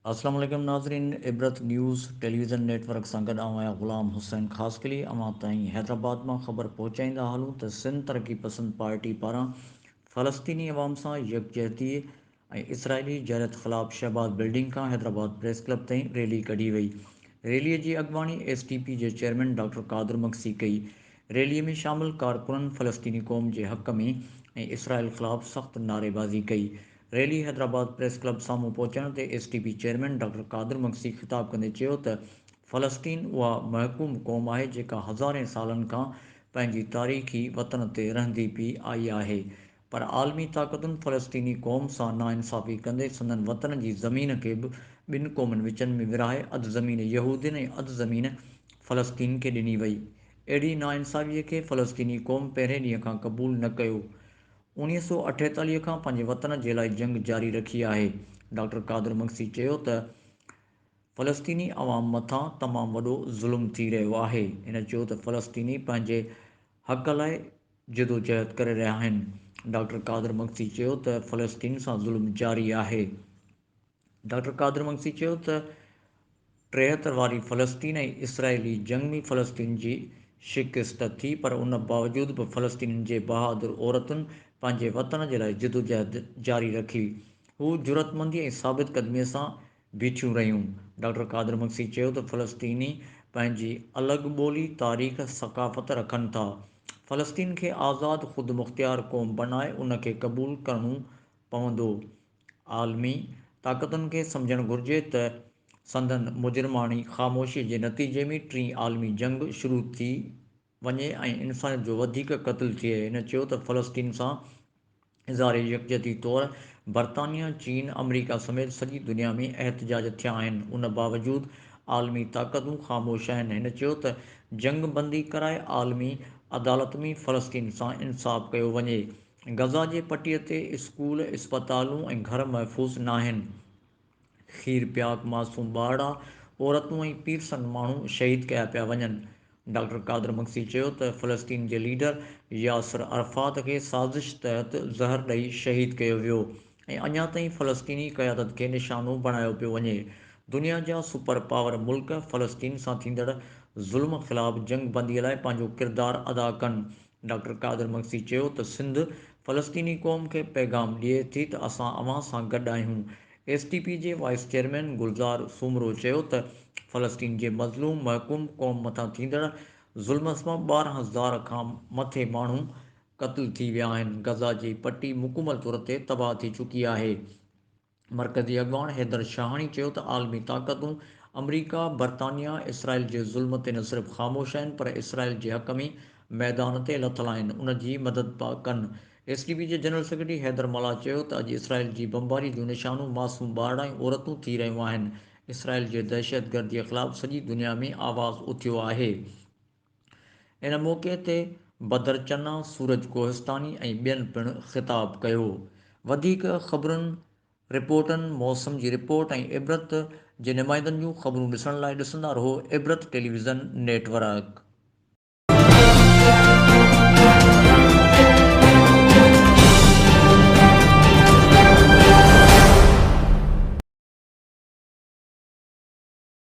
السلام عليڪم ناظرين Ibrat news television network سان گڏ آئون آهيان غلام حسين خاصخيلي اوهان تائين حيدرآباد مان خبر پهچائيندا هلون ته سنڌ ترقي پسند پارٽي پاران فلسطيني عوام سان يڪجهتي ۽ اسرائيلي جارحيت خلاف شهباز بلڊنگ کان حيدرآباد پريس ڪلب تائين ريلي ڪڍي وئي. ريلي جي اڳواڻي ايس ٽي پي جي چيئرمين ڊاڪٽر قادر مگسي ڪئي. ريلي ۾ شامل ڪارڪنن فلسطيني قوم جي حق ۾ ۽ اسرائيل خلاف سخت نعريبازي ڪئي. ريلي حيدرآباد پريس ڪلب سامهون پهچڻ تي S T P chairman doctor Qadir Magsi خطاب ڪندي چيو ته فلسطين اها محڪوم قوم آهي جيڪا هزارين سالن کان پنهنجي تاريخي وطن تي رهندي پئي آئي آهي پر عالمي طاقتن فلسطيني قوم سان ناانصافي ڪندي سندن وطن جي زمين کي به ٻن قومن وچن ۾ ورهائي اڌ زمين يهودين ۽ اڌ زمين فلسطين کي ڏني وئي. اهڙي ناانصافيء کي فلسطيني قوم پهرين ڏينهن کان قبول نه ڪيو. اڻيهه سؤ اٺيتاليهه کان پنهنجي وطن جي لاء جنگ جاري رکي آهي. ڊاڪٽر قادر مگسي چيو ته فلسطيني عوام مٿان تمام وڏو ظلم ٿي رهيو آهي. هن چيو ته فلسطيني پنهنجي حق لاء جدوجهد ڪري رهيا آهن. ڊاڪٽر قادر مگسي چيو ته فلسطين سان ظلم جاري آهي. ڊاڪٽر قادر مگسي چيو ته ٽيهتر واري فلسطين ۽ اسرائيلي جنگ ۾ فلسطين جي شڪست ٿي پر ان باوجود به فلسطينين جي بهادر عورتن پنهنجي وطن جي لاء جدوجهد جاري رکي. هو جرئتمندي ۽ ثابت قدمي سان بيٺيون رهيون. ڊاڪٽر قادر مگسي چيو ته فلسطيني پنهنجي الڳ ٻولي، تاريخ، ثقافت رکن ٿا. فلسطين کي آزاد خودمختيار قوم بنائي ان کي قبول ڪرڻو پوندو. عالمي طاقتن کي سمجهڻ گهرجي ته سندن مجرماڻي خاموشي جي نتيجي ۾ ٽين عالمي جنگ شروع ٿي وڃي ۽ انسانيت جو وڌيڪ قتل ٿئي. هن چيو ته فلسطين سان اظهار يڪجهتي طور برطانيا، چين، آمريڪا سميت سڄي دنيا ۾ احتجاج ٿيا آهن، ان باوجود عالمي طاقتون خاموش آهن. هن چيو ته جنگ بندي ڪرائي عالمي عدالت ۾ فلسطين سان انصاف ڪيو وڃي. غزه جي پٽي تي اسڪول، اسپتالون ۽ گهر محفوظ ناهن. کير پياڪ معصوم ٻارڙا، عورتون ۽ پير سنگ ماڻهو شهيد ڪيا پيا وڃن. ڊاڪٽر قادر مگسي چيو ته فلسطين جي ليڊر ياسر عرفات کي سازش تحت زهر ڏئي شهيد ڪيو ويو ۽ اڃا تائين فلسطيني قيادت کي نشانو بڻايو پيو وڃي. دنيا جا سپر پاور ملڪ فلسطين سان ٿيندڙ ظلم خلاف جنگ بندي لاء پنهنجو ڪردار ادا ڪن ڊاڪٽر قادر مگسي چيو ته سنڌ فلسطيني قوم کي پيغام ڏئي ٿي ته اسان اوهان سان گڏ آهيون. ايس ٽي پي جي وائيس چيئرمين گلزار سومرو چيو ته فلسطين جي مظلوم محڪوم قوم مٿان ٿيندڙ ظلم سبب ٻارهن هزار کان مٿي ماڻهو قتل ٿي ويا آهن، غزه جي پٽي مڪمل طور تي تباهه ٿي چڪي آهي. مرڪزي اڳواڻ حيدر شاهاڻي چيو ته عالمي طاقتون آمريڪا، برطانيا، اسرائيل جي ظلم تي نه صرف خاموش آهن پر اسرائيل جي حق ۾ ميدان تي لٿل آهن ان جي مدد پيا ڪن. ايس ٽي پي جي جنرل سيڪريٽري حيدر ملاح چيو ته اڄ اسرائيل جي بمباري جون نشانو معصوم ٻارڙا ۽ عورتون ٿي رهيون آهن، اسرائيل جي دهشتگردي خلاف سڄي دنيا ۾ آواز اٿيو آهي. ان موقعي تي بدر چنا، سورج ڪوهستاني ۽ ٻين پڻ خطاب ڪيو. وڌيڪ خبرن، رپورٽن، موسم جي رپورٽ ۽ عبرت جي نمائندن جون خبرون ڏسڻ لاء ڏسندا رهو عبرت ٽيليويزن نيٽ ورڪ.